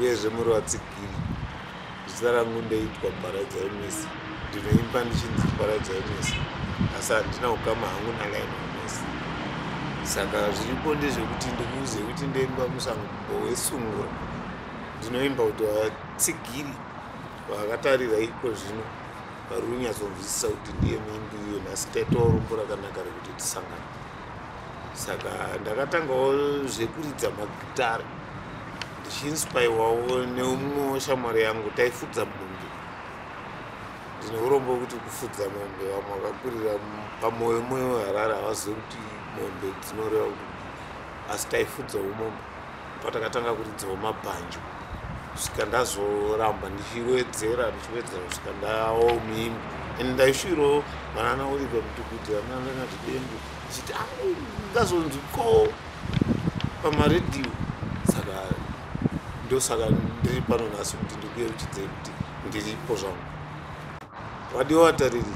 uyezve muri vatsigiri zita rangu ndeitwa paradzai misi ndinoimba ndichinzi paradzai misi asi handina ukama hangu nalaina misi saka zviripo ndezvekuti ndikuuze kuti ndoimba musango wesungura ndinoimba kuti vatsigiri vakatarira iko zvino vari kunyatsonzwisisa kuti ndiye muimbi uyo nhasi taitawo rombo rakanaka rekuti tisangana saka ndakatangawo zvekuridza magitare ndichiinspaiwawo neumwe weshamwari yangu taifudza mombe ndine urombo wekuti kufudza mombe vamwe vakakurira pamoyo moyo weharare havazive kuti mombe dzinoreva kuti asi taifudzawo mombe patakatanga kuridzawo mabhanjo kusvika ndazoramba ndichiwedzera ndichiwedzera kusvika ndawo mimbi and ndaishuirawo vanana oliver mutukuti vananati dembo ichiti a ah, ndazonzi ko pamaredhiyo saka ndosaka ndiri pano nhasi kuti ndikuye uchidzei kuti ndiripo zvangu vadiwa vatariri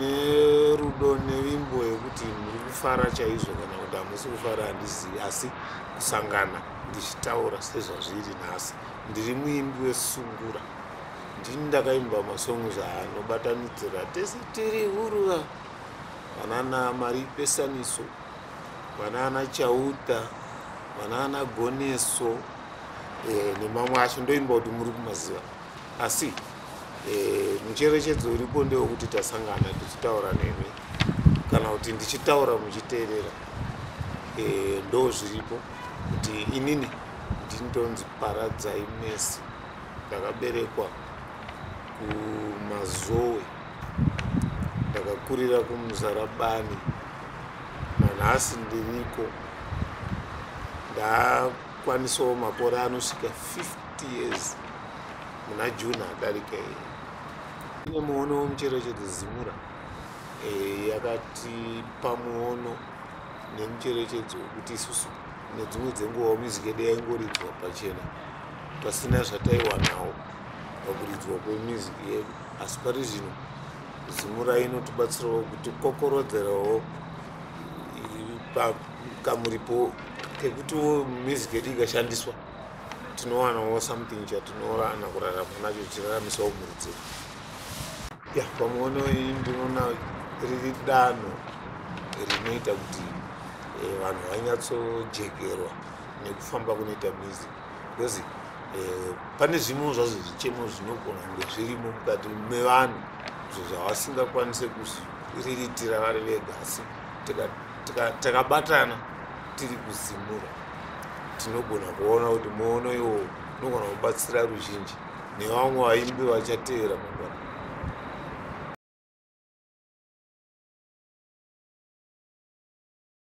nerudo nevimbo yekuti muri kufara chaizvo kana kuti hamusi kufara handizivi asi kusangana ndichitaura sezvazviri nhasi ndiri muimbi wesungura ndini ndakaimba masongo zvaanobatanidzira tese tiri huruva vanana mari pesaniso vanana chauta vanana goneso eh, nemamwe acho ndoimba kuti muri kumaziva asi eh, mucherechedzo uripo ndewekuti tasangana tichitaura nemi kana kuti ndichitaura muchiteerera eh, ndo zviripo kuti inini ndintonzi paradzai mesi ndakaberekwa kumazowe ndakakurira kumuzarabani nanhasi ndiriko ndakwanisawo makore anosvika 50 years muna june adarika iyi ine muono wemucherechedzo zimura eh, yakatipa muono nemucherechedzo wekuti isusu nedzimwe dzenguva music yedu yaingoridzwa pachena pasina zvataiwanawo pakuridzwa kwemusic yedu asi pari zvino zimura inotibatsirawo kuti kokorodzerawo kamuripo kekutiwo music yedu ikashandiswa tinowanawo something chatinorana kurarama nacho tichiraramisa umhuri dzedu ya pamuono iyi ndinoona riri danho rinoita kuti eh, vanhu vanyatsojekerwa nekufamba kunoita mizi because eh, pane zvimwe zvazvo zvichemo zvinogona kunge zvirimo mukati mevanhu zvo zvavasingakwanise kuriritira vari vega asi takabatana tiri kuzimura tinogona kuona kuti muono iwowo unogona kubatsira ruzhinji nevamwe vaimbi vachateera mangwana